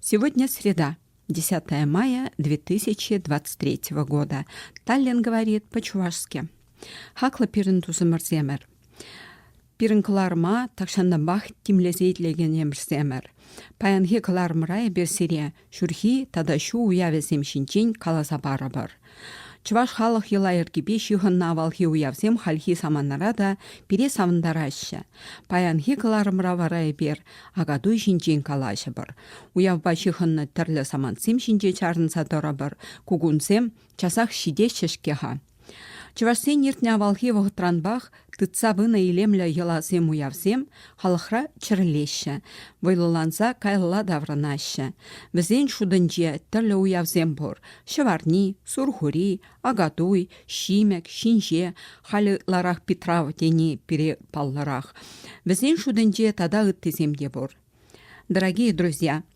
Сегодня среда, 10 мая 2023 года. Таллин говорит по-чувашски. Хаклӑ пирӗн тусӑмӑрсемӗр. Пирӗн кӑларӑма тахҫантанпах тимлесе итлегенемӗрсемӗр. Паянхи кӑларӑмра эпир сире ҫурхи тата ҫу уявӗсем ҫинчен каласа парӑпӑр. Чӑваш халӑх йӑла-йӗркипе ҫыхӑннӑ авалхи уявсем хальхи саманара та пире савӑнтараҫҫӗ. Паянхи кӑларӑмра вара эпир Акатуй ҫинчен калаҫӑпӑр. Уявпа ҫыхӑннӑ тӗрлӗ самантсем ҫинче чарӑнса тӑрӑпӑр. Кукунсем часах ҫитеҫҫӗ-ҫке-ха. Чӑвашсен иртнӗ авалхи вӑхӑтранпах Тытса пынӑ илемлӗ йӑласем-уявсем халӑхра чӗрӗлеҫҫӗ, вӑйлӑланса каялла таврӑнаҫҫӗ. Вӗсен шутӗнче тӗрлӗ уявсем пур: Ҫӑварни, Сурхури, Акатуй, Ҫимӗк, Ҫинҫе, халӗ ытларах Питрав тени пире паллӑрах. Вӗсен шутӗнче тата ыттисем те пур. Дорогие друзья,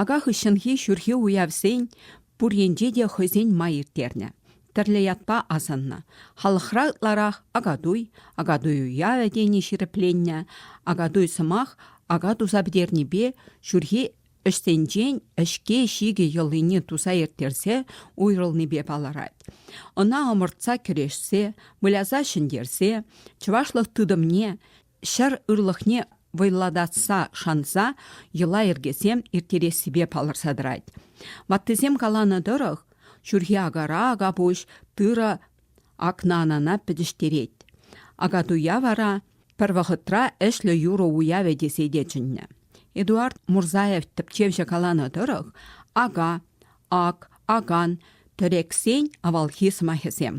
Ака хыҫҫӑнхи ҫурхи уявсен пур енче те хӑйсен май ирттернӗ. Тӗрлӗ ятпа асӑннӑ. Халӑхра ытларах Акатуй, Акатуй уявӗ тени ҫирӗпленнӗ. Акатуй сӑмах ака туса пӗтернипе ҫурхи ӗҫсенчен ӗҫке-ҫикӗ йӑлине туса ирттерсе уйрӑлнипе палӑрать. Ӑна ӑмӑртса кӗрешсе, выляса ҫӗнтерсе чӑвашлӑх тытӑмне ҫӗр ырлӑхне вӑйлатса шанса йӑла-йӗркесем ирттерессипе палӑрса тӑрать. Ваттисем каланӑ тӑрӑх, ҫурхи акара акапуҫ тырӑ акнанана пӗтӗҫтерет. Акатуя вара пӗр вӑхӑтра ӗҫлӗ юрӑ уявӗ тесе те чӗннӗ. Эдуард Мурзаев тӗпчевҫӗ каланӑ тӑрӑх, ака, ак, акан, тӗрексен авалхи сӑмахӗсем.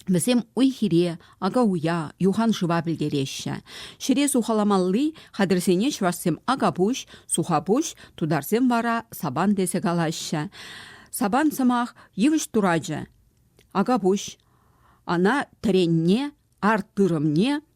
Вӗсем уй-хире, ака-уя, юханшыва пӗлтереҫҫӗ. Ҫӗре сухаламалли хатӗрсене чӑвашсем акапуҫ, сухапуҫ, тутарсем вара сабан тесе калаҫҫӗ. Сабан сӑмах йывӑҫ турачӗ. Акапуҫ, ана тӗренне, арт тырӑмне,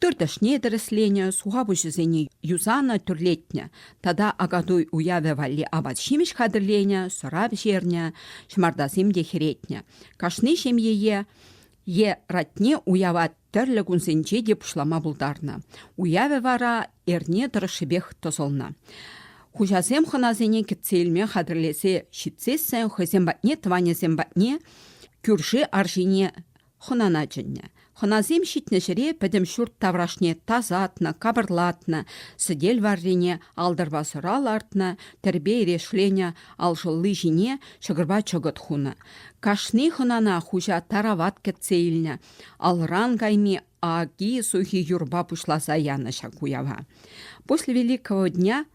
Тыр тӗшне тӗрӗсленӗ, суха пуҫӗсене юсанӑ, тӳрлетнӗ. Тата акатуй уявӗ валли апат-ҫимӗҫ хатӗрленӗ, сӑра пӗҫернӗ, ҫӑмартасем те хӗретнӗ. Кашни ҫемьее е ратне уява тӗрлӗ кунсенче те пуҫлама пултарнӑ. Уявӗ вара эрне тӑрӑшшипех тӑсӑлнӑ. Хуҫасем хӑнасене кӗтсе илме хатӗрлесе ҫитсессӗн хӑйсем патне, тӑванӗсем патне кӳрши арҫине хӑнана чӗннӗ. Хӑнасем ҫитнӗ ҫӗре пӗтӗм ҫурт таврашне тасатнӑ, капӑрлатнӑ, сӗтел варрине алтӑрпа сӑра лартнӑ, тӗрпей-решленӗ алшӑлли ҫине ҫӑкӑрпа чӑкӑт хунӑ. Кашни хӑнана хуҫа тарават кӗтсе илнӗ, алран кайми аки-сухи юрпа пуҫласа янӑ ҫак уява. После Великого дня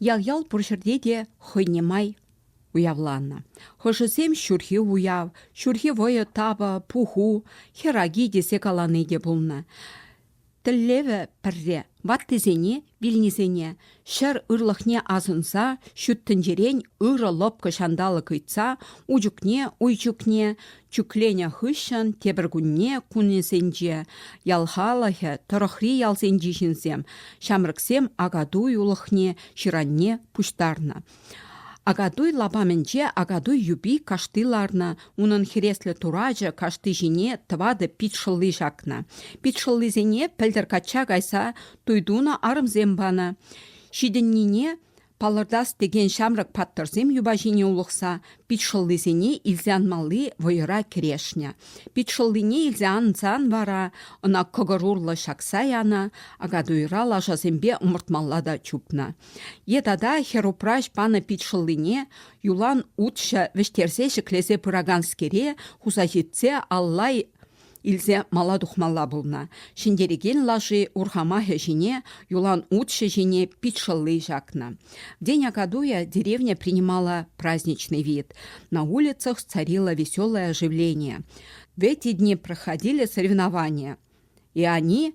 Ял-ял пур ҫӗрте те хӑйне май уявланӑ. Хӑшӗсем ҫурхи уяв, ҫурхи вӑйӑ тапӑ, пуху, хӗраки тесе калани те пулнӑ. Тӗллевӗ пӗрре ваттисене, вилнисене ҫӗр ырлӑхне асӑнса ҫут тӗнчерен ырӑ лӑпкӑ ҫанталӑк ыйтса ун чухне уй чухне Чӳкленӗ хыҫҫӑн тепӗр кунне кунӗсенче ял халӑхӗ, тӑрӑхри ялсенчи ҫынсем, ҫамрӑксем Акатуй улӑхне, ҫыранне пуҫтарнӑ. Акатуй лапамӗнче Акатуй юпи кашти ларнӑ, унӑн хӗреслӗ турачӗ кашти ҫине тӑватӑ пит шӑлли ҫакнӑ. Пит шӑллисене пӗлтӗр качча кайса туй тунӑ арӑмсем панӑ. Ҫитӗннине Палӑртас текен ҫамрӑк паттӑрсем юпа ҫине улӑхса пит шӑллисене илсе анмалли вӑйӑра кӗрешнӗ. Пит шӑллине илсе ансан вара ӑна кӑкӑр урлӑ ҫакса янӑ, акатуйра лашасемпе ӑмӑртмалла та чупнӑ. Е тата хӗрупраҫ панӑ пит шӑллине юлан утҫӑ вӗҫтерсе ҫӗклесе пыраканскере хуса ҫитсе аллай Илсе мала тухмалла пулнӑ. Ҫӗнтерекен лаши урхамахӗ ҫине, юлан утҫӑ ҫине пит шӑлли ҫакнӑ. День Акадуя деревня принимала праздничный вид. На улицах царило веселое оживление. В эти дни проходили соревнования, и они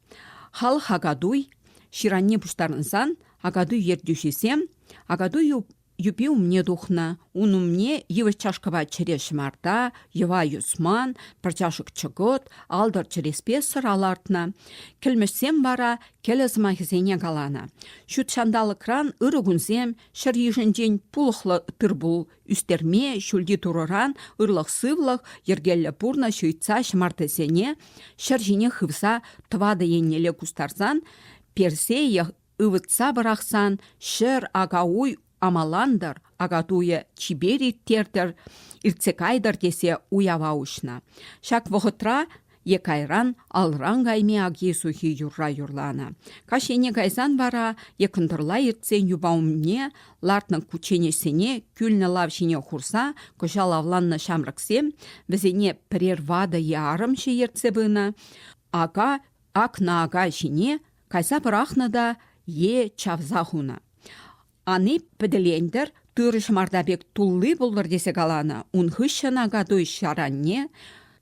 Халӑх Акатуй ҫыранне пуҫтарӑнсан Акатуй ертӳҫисем Акатуй юпи умне тухнӑ. Ун умне йывӑҫ чашкӑпа чӗре ҫӑмарта, йӑва юсман, пӑрчашӑк чӑкӑт, алтӑр чӗреспе сӑра лартнӑ. Кӗлмӗҫсем вара кӗлӗ сӑмахӗсене каланӑ. Ҫут ҫанталӑкран ырӑ кунсем, ҫӗр йышӗнчен пулӑхлӑ тыр-пул Ӳстерме ҫӳлти турӑран ырлӑх-сывлӑх, йӗркеллӗ пурнӑҫ ыйтса ҫӑмартасене ҫӗр ҫине хывса тӑватӑ еннелле кустарсан, персее ывӑтса пӑрахсан ҫӗр акауй амалантӑр, акатуйӗ чипер ирттертӗр, иртсе кайтӑр тесе уява уҫнӑ. Ҫак вӑхӑтра е кайран алран кайми аки-сухи юрра юрланӑ. Каҫ ене кайсан вара е кӑнтӑрла иртсен юпа умне лартнӑ кучченеҫсене кӳлнӗ лав ҫине хурса кӑҫал авланнӑ ҫамрӑксем вӗсене пӗрер ватӑ е арӑмҫӑ ертсе пынӑ, ака акнӑ ака ҫине кайса пӑрахнӑ та е чавса хунӑ. Ани пӗтӗлентӗр, тыр ҫӑмарта пек тулли пултӑр тесе каланӑ. Ун хыҫҫӑн акатуй ҫаранне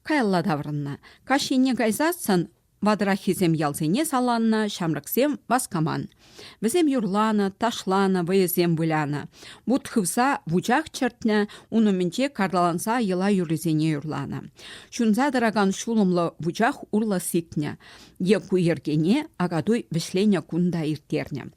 каялла таврӑннӑ. Каҫ енне кайсассӑн ватӑраххисем ялсене саланнӑ, ҫамрӑксем васкаман. Вӗсем юрланӑ, ташланӑ, вӑйӑсем вылянӑ. Вут хывса вучах чӗртнӗ, ун умӗнче карталанса йӑла юррисене юрланӑ. Ҫунса тӑракан ҫулӑмлӑ вучах урлӑ сикнӗ. Е ку йӗркене Акатуй вӗҫленӗ кун та ирттернӗ.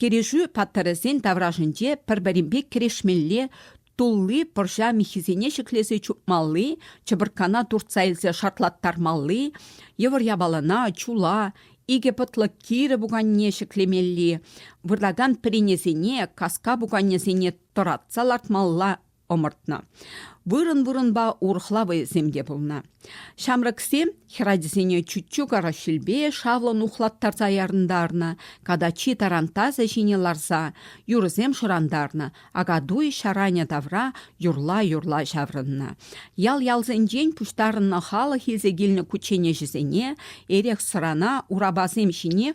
Кӗрешӳ паттӑрӗсен таврашӗнче пӗр-пӗринпе кӗрешмелле, тулли пӑрҫа миххисене ҫӗклесе чупмалли, чӑпӑрккана туртса илсе шартлаттармалли, йывӑр япалана, чула, икӗ пӑтлӑ кирӗ пуканне ҫӗклемелли, выртакан пӗренесене, каска пуканесене тӑратса лартмалла ӑмӑртнӑ. Вырӑн-вырӑнпа урӑхла вӑйӑсем те пулнӑ. Ҫамрӑксем хӗрачасене чуччу караҫилпе шавлӑн ухлаттарса ярӑнтарнӑ, катачи тарантасӗ ҫине ларса юрӑсем шӑрантарнӑ, акатуй ҫаранӗ тавра юрла-юрла ҫаврӑннӑ. Ял-ялсенчен пуҫтарӑннӑ халӑх илсе килнӗ кучченеҫӗсене эрех-сӑрана урапасем ҫине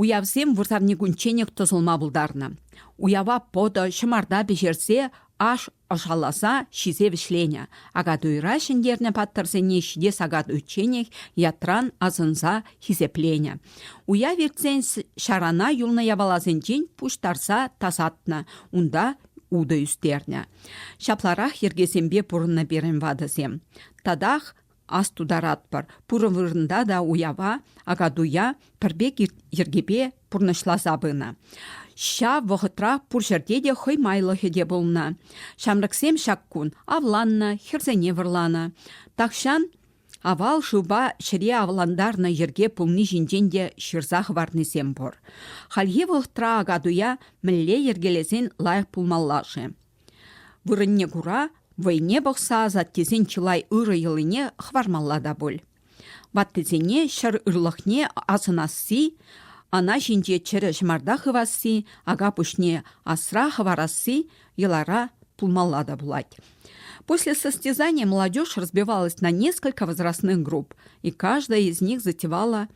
Уявсем вырсарникунчченех тӑсӑлма пултарнӑ. Уява пӑтӑ, ҫӑмарта пӗҫерсе аш ӑшаласа ҫисе вӗҫленӗ. Акатуйра ҫӗнтернӗ паттӑрсене ҫине сакат уйчченех ятран асӑнса хисепленӗ. Уяв иртсен ҫарана юлнӑ япаласенчен пуҫтарса тасатнӑ, унта утӑ ӳстернӗ. Ҫапларах йӗркесемпе пурӑннӑ пирӗн ватӑсем. Татах астутаратпӑр, пурӑ вырӑнта та уява Акатуя пӗр пек йӗркепе пурнӑҫласа пынӑ. Ҫав вӑхӑтра пур ҫӗрте те хӑй майлӑхӗ те пулнӑ. Ҫамрӑксем ҫак кун авланнӑ, хӗрсене вӑрланӑ. Тахҫан авал шывпа ҫӗре авлантарнӑ йӗрке пулни ҫинчен те ҫырса хӑварнисем пур. Хальхи вӑхӑтра Акатуя мӗнле йӗркелесен лайӑх пулмалла-ши? Вырӑнне кура вӑйне пӑхса асаттесен чылай ырӑ йӑлине хӑвармалла та пуль. Ваттисене ҫӗр ырлӑхне асӑнасси, ана ҫинче чӗрӗ ҫӑмарта хывасси, ака пуҫне асра хӑварасси йӑлара пулмалла та пулать. После состязания молодежь разбивалась на несколько возрастных групп, и каждая из них затевала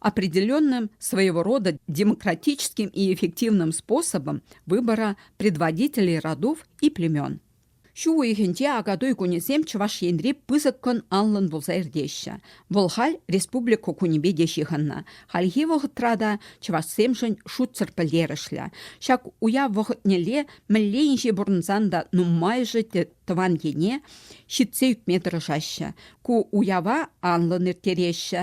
определенным своего рода демократическим и эффективным способом выбора предводителей родов и племен. Ҫу уйӑхӗнче Акатуй кунӗсем Чӑваш Енри пысӑк кун анлӑн пулса иртеҫҫӗ. Вӑл халь республика кунӗпе те ҫыхӑннӑ. Хальхи вӑхӑтра та чӑвашсемшӗн шутсӑр пӗлтерӗшлӗ. Ҫак уяв вӑхӑтнелле мӗнле инҫе пурӑнсан та нумайӑшӗ тӑван ене ҫитсе ӳкме тӑрӑшаҫҫӗ. Ку уява анлӑн ирттереҫҫӗ.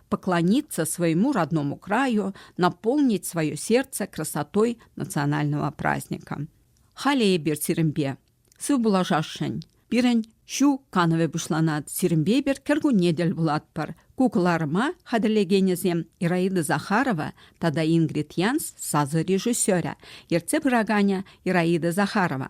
поклониться своему родному краю, наполнить свое сердце красотой национального праздника. Халӗ эпир сирӗнпе сыв пулашасшӑн. Пирӗн ҫу канӑвӗ пуҫланать. Сирӗнпе эпир кӗркунне тӗл пулатпӑр. Ку кӑларӑма хатӗрлекенӗсем Ираида Захарова тата Ингрид Янс сасӑ режиссерӗ, ертсе пыраканӗ Ираида Захарова.